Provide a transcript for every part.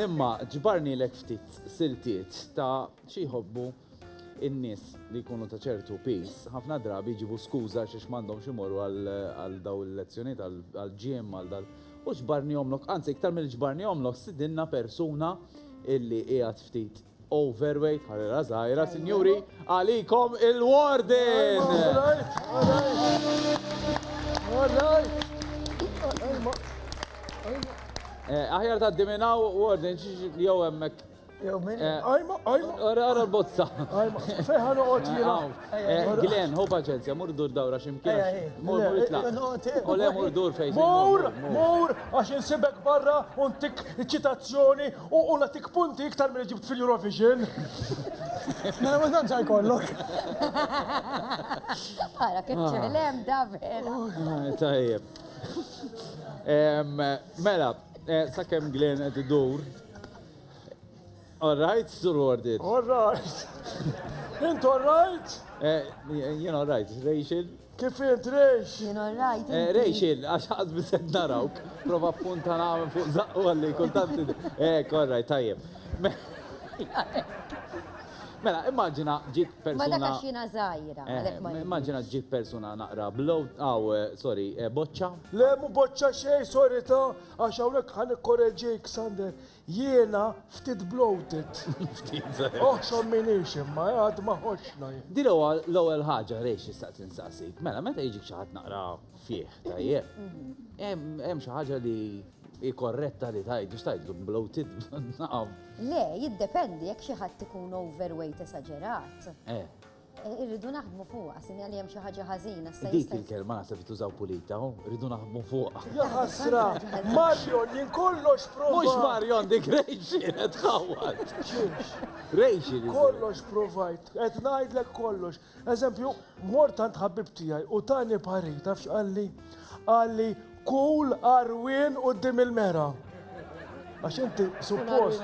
Imma ġbarnilek ftit siltiet ta' xi jħobbu in-nies li jkunu ta' ċertu piż. Ħafna drabi jġibu skuża għax ix m'għandhomx imorru għal daw il-lezzjonijiet għal gym għal dal. U ġbarnihomlok, anzi iktar milli ġbarnihomlok, sidinna persuna illi qiegħed ftit Overweight, ħarira żgħira, sinjuri, għalikom il-warden! Eh, aħjar ta' diminaw warden li jew hemmhekk. Jew min? Eh, ajma, ajma. Ora ora l-bozza. Ajma, fejħan uqgħod eh, jiena. Eh, Glen, hu paċenzja, mur dur dawra x'imkien. Mur mur itlaq. U le mur dur fejn. Mur, mur, għax insibek barra u ntik ċitazzjoni U u nagħtik punti iktar milli ġibt fil-Eurovision. Mela ma tantx ħajkollok. Ara kif ċelem da vera. Tajjeb. Em, Mela, eh, sakemm Glenn qed idur. All right, Sur Warded. All right. Int all right? Eh, Jien all right, Rachel? Kif int Rejx? Jien orrajt. Eh, Rejx, għax ħaż biset narawk. Prova punta nagħmel fuq zaqqu għalli kultant. Eh, korraj, tajjeb. Mela, immaġina ġit persuna. Ma dakax jina zaħira. Eh, immaġina ġit persuna naqra blow, għaw, eh, sorry, eh, boċċa. Le, mu boċċa xej, sorry ta, għax għawnek ħan korreġik, Sander. Jiena ftit bloated. Ftit. Ohh x'għamminix imma eh, għad ma ħoxxna jien. Din huwa l-ewwel ħaġa li xtaqt insaqsik. Mela meta jiġik xi ħadd naqra fih, tajjeb. Hemm xi ħaġa li hi korretta li tgħid biex tgħidlu bloated? Naf. Le, jiddependi jekk xi ħadd ikun overweight esaġerat. Eh. Irridu naħdmu fuqha, sinja li hemm xi ħaġa ħażina. Dik il-kelma se tużaw pulita, oh, irridu naħdmu fuqha. Ja ħasra, Marion jien kollox prova. Mhux Marion dik Rejxi qed tħawwad. Rejxi. Kollox provajt, qed ngħidlek kollox. Eżempju, mort għand ħabib tiegħi u tani parir tafx qalli qalli Kull għarwien quddiem il-mera. Għax inti suppost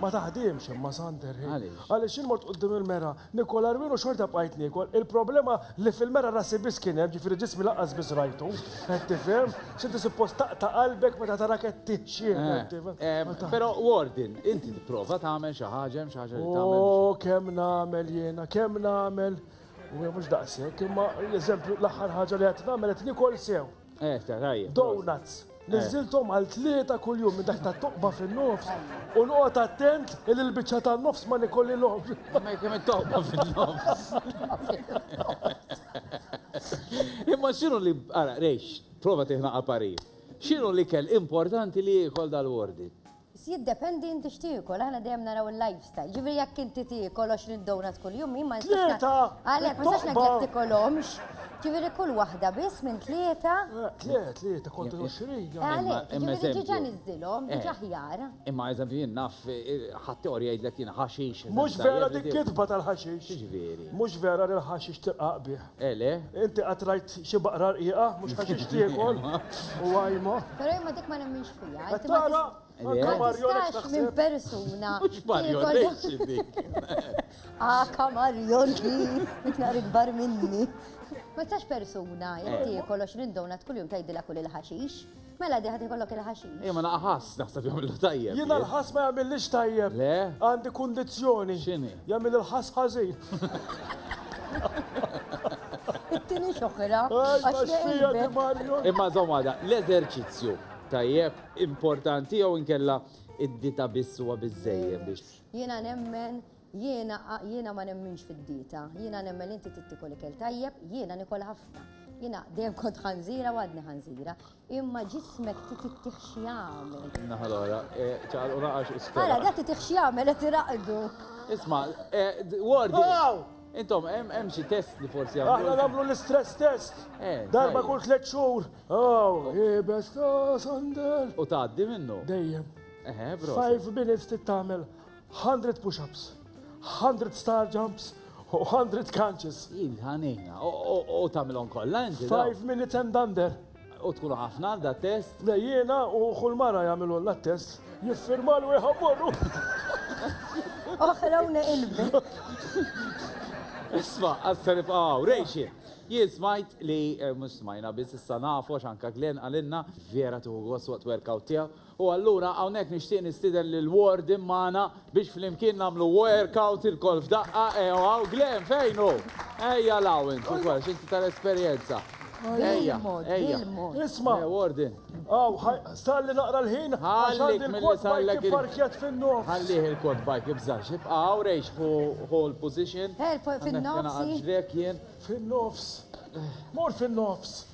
ma taħdimx imma Sander ħin. Għaliex jien mort quddiem il-mera, nikol għarwien u xorta bqajt niekol. Il-problema li fil-mera rasi biss kien hemm, ġifieri ġismi lanqas biss rajtu. Qed tifhem? X'inti suppost taqta' qalbek meta tara qed tixjieħ, qed tifhem? Però Warden, inti tipprova tagħmel xi ħaġa, hemm xi ħaġa li tagħmel? O kemm nagħmel jiena, kemm nagħmel! U hija mhux daqshekk, imma l-eżempju l-aħħar ħaġa li qed nagħmel qed nikol sew. Eh, ta' tajjeb. Donuts. Niżilthom għal tlieta kuljum minn dak ta' toqba fin-nofs u noqgħod attent li l-biċċa tan-nofs ma nikollilhom. Ma jkun qed toqba fin-nofs. Imma x'inhu li ara rejx, prova tieħna qaparir. X'inhu li kell importanti li jiekol dal-wardi? Biss jiddependi inti x'tiekol, aħna dejjem naraw il-lifestyle. Jiġifieri jekk inti tiekol 20 donut kuljum jien ma nistax ngħid. Tlieta! Għalhekk ma nistax ngħidlek tikolhomx. Jiġifieri kull waħda biss minn tlieta. Le, tlieta kontra 20. Għalhekk, jiġifieri diġà niżżilhom, diġà aħjar. Imma eżempju jien naf ħaddieħor jgħidlek jien ħaxix. Mhux vera dik kitba tal-ħaxix. X'jiġifieri? Mhux vera li l-ħaxix tirqaq bih. Eleh. Inti qatt rajt xi baqra rqiqa? Mhux ħaxix tiekol u għajma. Però jien ma dik ma nemminx fiha. Qed tara? Anke Mario Lex taħseb. Minn persuna. Mhux Mario Lex dik. Aka Mario Lex. Nhar ikbar minni. Ma tistax persuna jekk tiekol 20 donut kuljum tgħidilha kul il-ħaxix. Mela di ħad ikollok il-ħaxix. Ejja ma naqħas naħseb jagħmlu tajjeb. Jiena l-ħass ma jagħmillix tajjeb. Le? Għandi kundizzjoni. X'inhi? Jagħmel il-ħass ħażin. It-tieni xoħra. Imma żomm għada, l-eżerċizzju tajjeb importanti jew inkella id-dita biss huwa biżejjed biex. Jiena nemmen Jiena, jiena ma nemminx fid-dieta, jiena nemmen li inti trid tiekol ikel tajjeb, jiena niekol ħafna. Jiena dejjem kont ħanżira u għadni ħanżira, imma ġismek trid ittih xi jagħmel. Naħa l-oħra, e, ċaqal u naqax is Ara, dak trid xi jagħmel qed iraqdu. Isma, e, Wardi. Oh! Intom, hemm xi test li forsi għamlu. Aħna nagħmlu l-istress test. Eh, Darba kull tliet xhur. Oh, jibes ta' sandel. U tgħaddi minnu. Dejjem. Eħe, bro. Five minutes tittamel. Hundred push-ups, hundred star jumps, u hundred crunches. Jien ħanina, u tamilon kolla, inti. Five minutes and under. U tkunu ħafna għal da test? Le jiena u kull mara jagħmilu la test, jiffirma l wieħa morru. Oħlawna ilbi. Isma, għassa nibqaw, rejxi. Jien smajt li, eh, mux smajna, biz issa nafu, xanka Glenn għalinna, vera tuħu għos waqt workout tijaw. U allura hawnhekk nixtieq nistieden lil Ward in magħna biex flimkien nagħmlu workout ilkoll f'daqqa, ew hawn Glen fejn hu? Ejja 'l hawn int ukoll għax inti tal-esperjenza. Ejja, ejja. Isma', hawn ħa salli naqra l-ħin għax għandi l-quad bike ipparkjat fin-nofs. Ħallih il-quad bike, ibżax, ibqa' hawn rejx ħu l-position. Għandna naqgħad ġriegħek jien. Fin-nofs. Mur fin-nofs.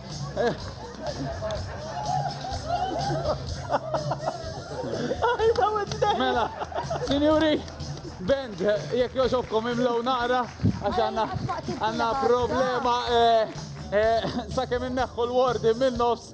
Mela, sinjuri, band, jekk joġobkom imlow nara, għax għanna għanna problema eh, eh, sa' kemm inneħħu l-wardi minn nofs